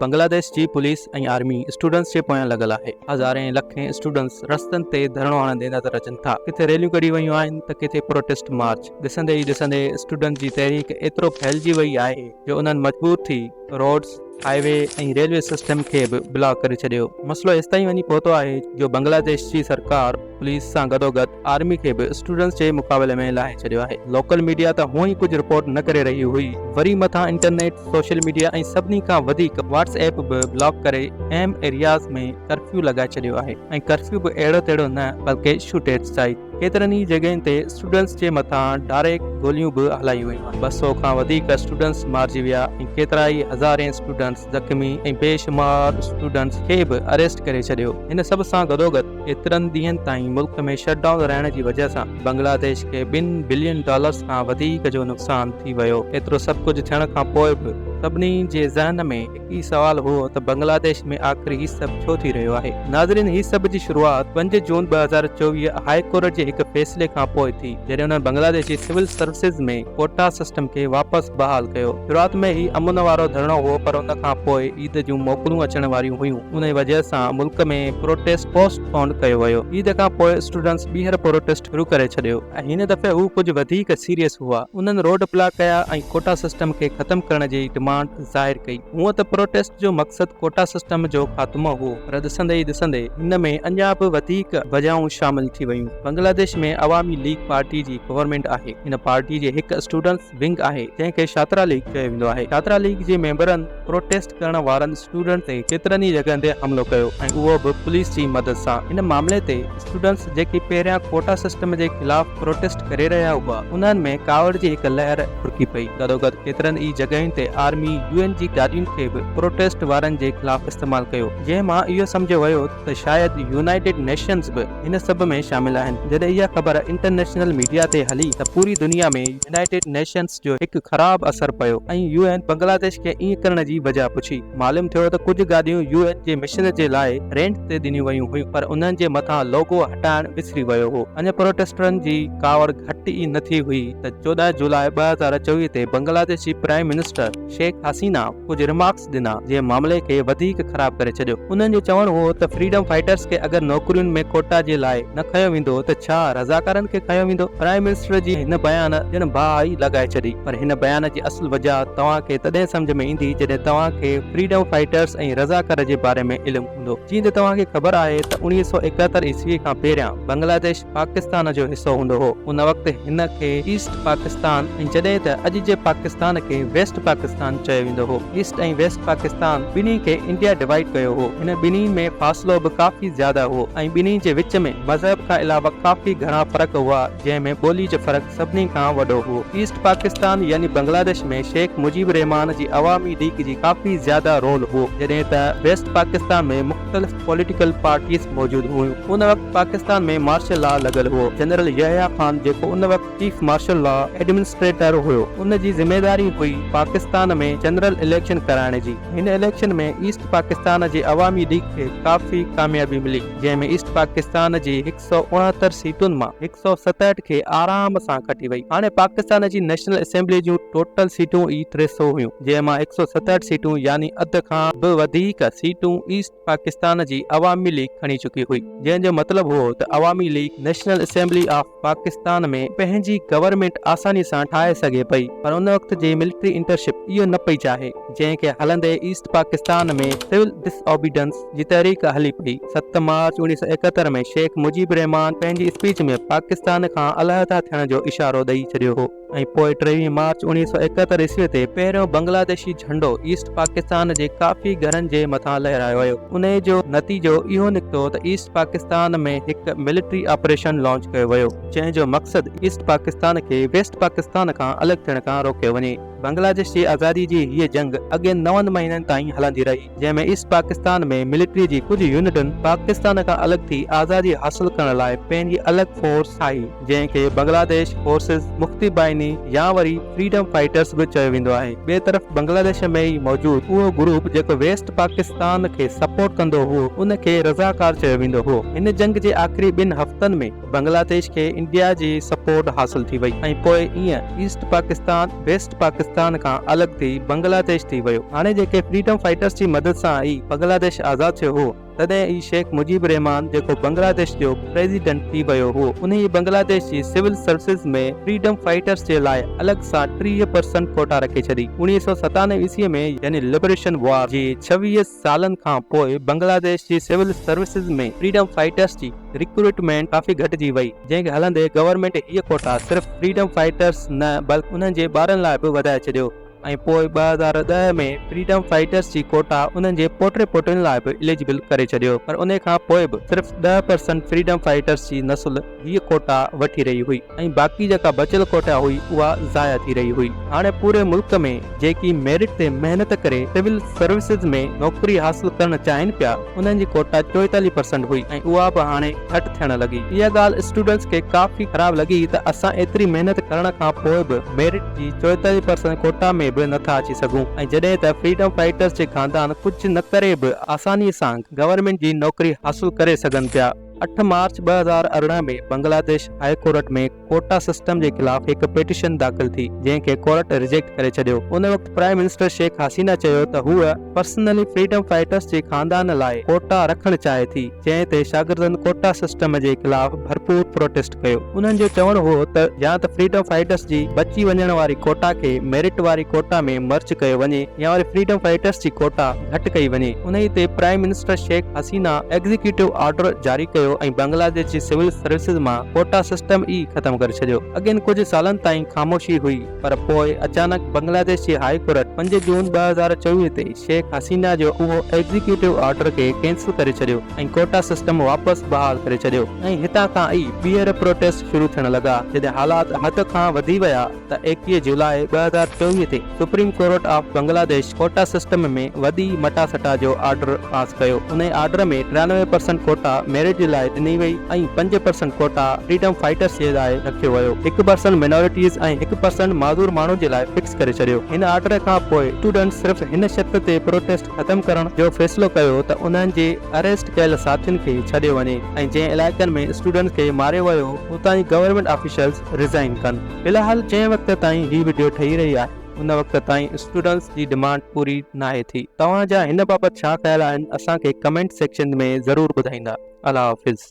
بنگلاديش جي police ۽ army students جي پويان لڳل آهي، هزارين لکين اسٽوڊنٽس رستن تي ڌرڻو هڻندي نظر اچن ٿا، ڪٿي ريليون ڪڍي ويون آهن ته ڪٿي پروٽيسٽ مارچ، ڏسندي ئي ڏسندي اسٽوڊنٽس جي تحريڪ ايترو ڦهلجي وئي آهي جو انهن مجبور ٿي roads, highway ۽ railway system کي به بلاڪ ڪري ڇڏيو، مسئلو ايستائين وڃي پهتو آهي جو بنگلاديش جي سرڪار پوليس سان گڏوگڏ آرمي کي به اسٽوڊنٽس جي مقابلي ۾ لاهي ڇڏيو آهي لوڪل ميڊيا ته هونء ئي ڪجهه رپورٽ نه ڪري رهي هئي وري مٿان انٽرنيٽ سوشل ميڊيا ۽ سڀني کان وڌيڪ واٽس ايپ به بلاڪ ڪري اهم ايرياز ۾ ڪرفيو لڳائي ڇڏيو آهي ۽ ڪرفيو به اهڙو تهڙو نه بلڪه شوٽ ايٽ سائيڪ ڪيترن ئي جڳهين تي اسٽوڊنٽس جي مٿان ڊاريڪ گوليون به هلايون ويون آهن ٻه سؤ کان وڌيڪ اسٽوڊنٽس مارجي ويا ۽ ڪيترائي هزارين اسٽوڊنٽس زخمي ۽ بيشمار اسٽوڊنٽس کي به اريسٽ ڪري ڇڏيو هن سڀ سان گڏوگڏ ايترن ڏينهن تائين ملڪ ۾ شٽ ڊائون رهڻ جي وجهه سان بنگلاديش کي ٻن بلين ڊالرز کان وڌيڪ جو نقصان ٿي ويو. ايترو سڀ ڪجهه ٿيڻ کان پوء به سڀني جي ذهن ۾ هڪ ئي سوال هو ته بنگلاديش ۾ آخر هي سڀ ڇو ٿي رهيو آهي؟ ناظرين هي سڀ جي شروعات پنج جون ٻه هزار چوويهه هاء ڪورٽ جي هڪ فيصلي کان پوء ٿي جڏهن انهن بنگلاديش جي سول سروسز ۾ ڪوٽا سسٽم کي واپس بحال ڪيو. شروعات ۾ هي امن وارو ڌرڻو هو پر ان کان پوء عيد جون موڪلون اچڻ واريون هيون. انهيء وجهه سان ملڪ ۾ پروٽيسٽ پوسٽ پونڊ ڪيو ويو. عيد کان پوء اسٽوڊنٽس ٻيهر پروٽيسٽ شروع ڪري ڇڏيو ۽ هن دفعي هو ڪجهه وڌيڪ سيريس هئا. انهن روڊ بلاڪ ڪيا ۽ ڪوٽا سسٽم کي ختم ڪرڻ جي ڊمانڊ ظاهر ڪئي. هونء ته پروٽيسٽ جو مقصد ڪوٽا سسٽم جو خاتمو هو پر ڏسندي ئي ڏسندي ان ۾ اڃا به وڌيڪ وجهون شامل ٿي ويون. بنگلاديش ۾ عوامي ليگ پارٽي جي گورنمينٽ آهي. ان پارٽي جي هڪ اسٽوڊنٽس، ونگ آهي جنهن کي شاترا ليگ چيو ويندو آهي. شاترا ليگ جي ميمبرن پروٽيسٽ ڪرڻ وارن اسٽوڊنٽس تي ڪيترن ئي جڳهن تي حملو ڪيو ۽ اهو به پوليس جي مدد سان. هن معاملي تي اسٽوڊنٽس جيڪي پهريان ڪوٽا سسٽم جي خلاف پروٽيسٽ ڪري رهيا هئا انهن ۾ ڪاوڙ جي هڪ لهر ڦرڪي پئي. گڏوگڏ ڪيترن ئي جڳهين تي آرمي يو اين جي گاڏين کي به پروٽيسٽ وارن جي خلاف استعمال ڪيو جنهن مان اهو سمجهيو ويو ته. ته شايد يونائيٽيڊ نيشنز به هن سڀ ۾ شامل آهن. جڏهن اها خبر انٽرنيشنل ميڊيا تي هلي ته پوري دنيا ۾ يونائيٽيڊ نيشنز جو هڪ خراب اثر پيو ۽ يو اين بنگلاديش کي ائين ڪرڻ جي وجهه پڇي. معلوم ٿيو ته ڪجهه گاڏيون يو اين جي مشن جي لاء رينٽ تي ڏنيون ويون هيون پر انهن جي مٿان لوگو هٽائڻ وسري ويو هو. اڃا پروٽيسٽرن جي ڪاوڙ گهٽ ئي نه ٿي هئي ته چوڏهن جولاء ٻه هزار چوويهه تي بنگلاديش جي پرائيم منسٽر شيخ حسينه ڪجهه رمارڪس ٽيڪس ڏنا، جنهن معاملي کي وڌيڪ خراب ڪري ڇڏيو. انهن جو چوڻ هو ته فريڊم فائيٽرز کي اگر نوڪرين ۾ ڪوٽا جي لاء نه کنيو ويندو ته ڇا رضاڪارن کي کنيو ويندو. پرائم منسٽر جي هن بيان ڄڻ باهه ئي لڳائي ڇڏي. پر هن بيان جي اصل وجه توهان کي تڏهن سمجهه ۾ ايندي جڏهن توهان کي فريڊم فائيٽرز ۽ رضاڪار جي باري ۾ علم هوندو. جيئن ته توهان کي خبر آهي ته اڻويهه سؤ ايڪاهتر عيسوي کان پهريان بنگلاديش، پاڪستان جو حصو هوندو هو. ان وقت هن کي ايسٽ پاڪستان ۽ جڏهن ته اڄ جي پاڪستان کي ويسٽ پاڪستان چيو ويندو هو. ايسٽ ۽ ويسٽ پاڪستان ٻنهي کي انڊيا ڊوائيڊ ڪيو هو. هن ٻنهي ۾ فاصلو به ڪافي زياده هو ۽ ٻنهي جي وچ ۾ مذهب کان علاوه ڪافي گهڻا فرق هئا جنهن ۾ ٻولي جو فرق سڀني کان وڏو هو. ايسٽ پاڪستان يعني بنگلاديش ۾ شيخ مجيب الرحمان جي عوامي ليگ جي ڪافي زياده رول هو جڏهن ته ويسٽ پاڪستان ۾ مختلف پوليٽيڪل پارٽيز موجود هيون. ان وقت پاڪستان ۾ مارشل لا لڳل هئو. جنرل يحيٰ خان جيڪو ان وقت چيف مارشل لا ايڊمنسٽريٽر هيو ان جي ذميواري هئي پاڪستان ۾ جنرل اليڪشن ڪرائڻ جي. هن اليڪشن ۾ ايسٽ پاڪستان جي عوامي ليگ کي ڪافي ڪاميابي ملي جنهن ۾ ايسٽ پاڪستان جي هڪ سئو سؤ اڻهتر سيٽن مان هڪ سؤ ستهٺ کي آرام سان کٽي وئي. هاڻي پاڪستان جي نيشنل اسيمبليء جون ٽوٽل سيٽون ئي ٽي سؤ هيون، جنهن مان هڪ سؤ ستهٺ سيٽون يعني اڌ کان به وڌيڪ سيٽون ايسٽ پاڪستان جي عوامي ليگ کڻي چڪي هئي، جنهن جو مطلب هئو ته Awami League national assembly of Pakistan ۾ پنهنجي گورنمينٽ آساني سان ٺاهي سگهي پئي پر ان وقت جي ملٽري انٽرشپ اهو نه پئي چاهي، جنهن کي هلندي East Pakistan ۾ civil disobedience تحريڪ هلي پئي. ست مارچ اوڻيهه سؤ ايڪهتر ۾ شيخ مجيب الرحمان پنهنجي اسپيچ ۾ پاڪستان کان علحده ٿيڻ جو اشارو ڏئي ڇڏيو هو ۽ پوء ٽيويهه مارچ اوڻيهه سؤ ايڪهتر عيسوي تي پهريون بنگلاديشي جهنڊو ايسٽ پاڪستان جي ڪافي گهرن جي مٿان لهرايو ويو. انهي جو نتيجو اهو نڪتو ته ايسٽ پاڪستان ۾ هڪ ملٽري آپريشن لانچ ڪيو ويو، جنهن جو مقصد ايسٽ پاڪستان کي ويسٽ پاڪستان کان الڳ ٿيڻ کان روڪيو وڃي. بنگلاديش جي آزادي جي هيء جنگ اڳين نون مهينن تائين هلندي رهي، جنهن ۾ ايسٽ پاڪستان ۾ ملٽري جي ڪجهه يونٽن پاڪستان کان الڳ ٿي آزادي حاصل ڪرڻ لاء پنهنجي الڳ فورس ٺاهي، جنهن کي بنگلاديش فورسز، مختي بائني يا وري فريڊم فائيٽرز به چيو ويندو آهي. ٻئي طرف بنگلاديش ۾ ئي موجود اهو گروپ جيڪو ويسٽ پاڪستان کي سپورٽ ڪندو هئو، ان کي رضاڪار چيو ويندو هئو. هن جنگ جي آخري ٻن هفتن ۾. بنگلاديش کي انڊيا جي سپورٽ حاصل ٿي وئي ۽ پوء ايئن ايسٽ پاڪستان ويسٽ پاڪستان کان الڳ ٿي بنگلاديش ٿي ويو. هاڻي جيڪي فريڊم فائيٽرس جي مدد سان ئي بنگلاديش آزاد ٿيو هو، تڏهن ئي شيخ مجيب الرحمان جيڪو بنگلاديش جو پريزيڊنٽ ٿي ويو هو، انهيء بنگلاديش جي سول سروسز ۾ فريڊم فائيٽرس جي لاء الڳ سان ٽيهه پرسنٽ ڪوٽا رکي ڇڏي. اوڻيهه سؤ ستانوي عيسويء ۾ يعني لبريشن وار جي ڇويهه سالن کان پوء بنگلاديش جي سول سروسز ۾ فريڊم فائيٽرز جي ريڪروٽمينٽ ڪافي گهٽجي وئي، جنهن کي هلندي گورنمينٽ هي ڪوٽا صرف فريڊم فائيٽرز نه بلڪ انهن جي ٻارن لاء به وڌائي ڇڏيو ۽ پوء ٻه هزار ڏهه ۾ فريڊم فائيٽرز جي ڪوٽا انهن جي پوٽي پوٽين لاء به اليجبل ڪري ڇڏيو پر انهي کان پوء به صرف ڏهه پرسنٽ فريڊم فائيٽرز جي نسل هيء ڪوٽا وٺي رهي هئي ۽ باقي جيڪا بچيل ڪوٽا هئي اها ضايع ٿي رهي هئي. هاڻي پوري ملڪ ۾ جيڪي ميرٽ تي محنت ڪري سول سروسز ۾ نوڪري حاصل ڪرڻ چاهين پيا انهن جي ڪوٽا چوئيتاليهه پرسنٽ هئي ۽ اها به هاڻي گهٽ ٿيڻ لڳي. اها ڳالهه اسٽوڊنٽس کي ڪافي خراب لڳي ته اسان ايتري محنت ڪرڻ کان پوء به ميرٽ جي چوئيتاليهه پرسنٽ ڪوٽا ۾ به نٿا اچي سگهون ۽ جڏهن ته فريڊم فائيٽرز جي خاندان ڪجهه نه ڪري به آساني سان گورنمينٽ جي نوڪري حاصل ڪري سگهن پيا. اٺ مارچ ٻه هزار ارڙهن ۾ Bangladesh high court ۾ quota system جي خلاف هڪ پٽيشن داخل ٿي جنهن کي ڪورٽ ريجيڪٽ ڪري ڇڏيو. ان وقت پرائم منسٽر شيخ حسينه چيو ته هوء پرسنلي فريڊم فائيٽرس جي خاندان لاء ڪوٽا رکڻ چاهي ٿي جنهن تي شاگردن ڪوٽا سسٽم جي خلاف ڀرپور پروٽيسٽ ڪيو. انهن جو چوڻ هو ته يا ته فريڊم فائيٽرس جي بچي وڃڻ واري ڪوٽا کي ميرٽ واري ڪوٽا ۾ مرج ڪيو وڃي يا وري فريڊم فائيٽرس جي ڪوٽا گهٽ ڪئي وڃي. انهي تي prime minister Sheikh Hasina executive order جاري ڪيو ۽ بنگلاديش جي سول سروسز مان ڪوٽا سسٽم ئي ختم ڪري ڇڏيو. اڳين ڪجهه سالن تائين خاموشي هئي. پر پوء اچانڪ بنگلاديش جي هائي ڪورٽ پنج جون ٻه هزار چويهه تي شيخ حسينه جو اهو ايگزيڪيوٽو آرڊر کي ڪينسل ڪري ڇڏيو ۽ ڪوٽا سسٽم واپس بحال ڪري ڇڏيو ۽ هتان کان ئي ٻيهر پروٽيسٽ شروع ٿيڻ لڳا جڏهن حالات حد کان وڌي ويا ته ايڪويهه جولاء ٻه هزار چويهه تي supreme court of Bangladesh quota system ۾ وڏي مٽاسٽا جو آرڊر پاس ڪيو انهي آرڊر ۾ ٽيانوي پرسنٽ ڪوٽا ميرٽ جي لاء ڏني وئي ۽ پنج پرسنٽ ڪوٽا فريڊم فائيٽرس جي لاء ٿيو ويو، هڪ پرسنٽ مائنارٽيز ۽ هڪ پرسنٽ معذور ماڻهن جي لاء فڪس ڪري ڇڏيو. هن آرڊر کان پوء اسٽوڊنٽس صرف هن شرط تي پروٽيسٽ ختم ڪرڻ جو فيصلو ڪيو ته انهن جي اريسٽ ڪيل ساٿين کي ڇڏيو وڃي ۽ جنهن علائقن ۾ اسٽوڊنٽس کي ماريو ويو اتان جي گورنمينٽ آفيشلز ريزائين ڪن. في الحال جنهن وقت تائين هي وڊيو ٺهي رهي آهي ان وقت تائين اسٽوڊنٽس جي ڊمانڊ پوري ناهي ٿي. توهان جا هن بابت ڇا خيال آهن اسان کي ڪمينٽ سيڪشن ۾ ضرور ٻڌائيندا. الله حافظ.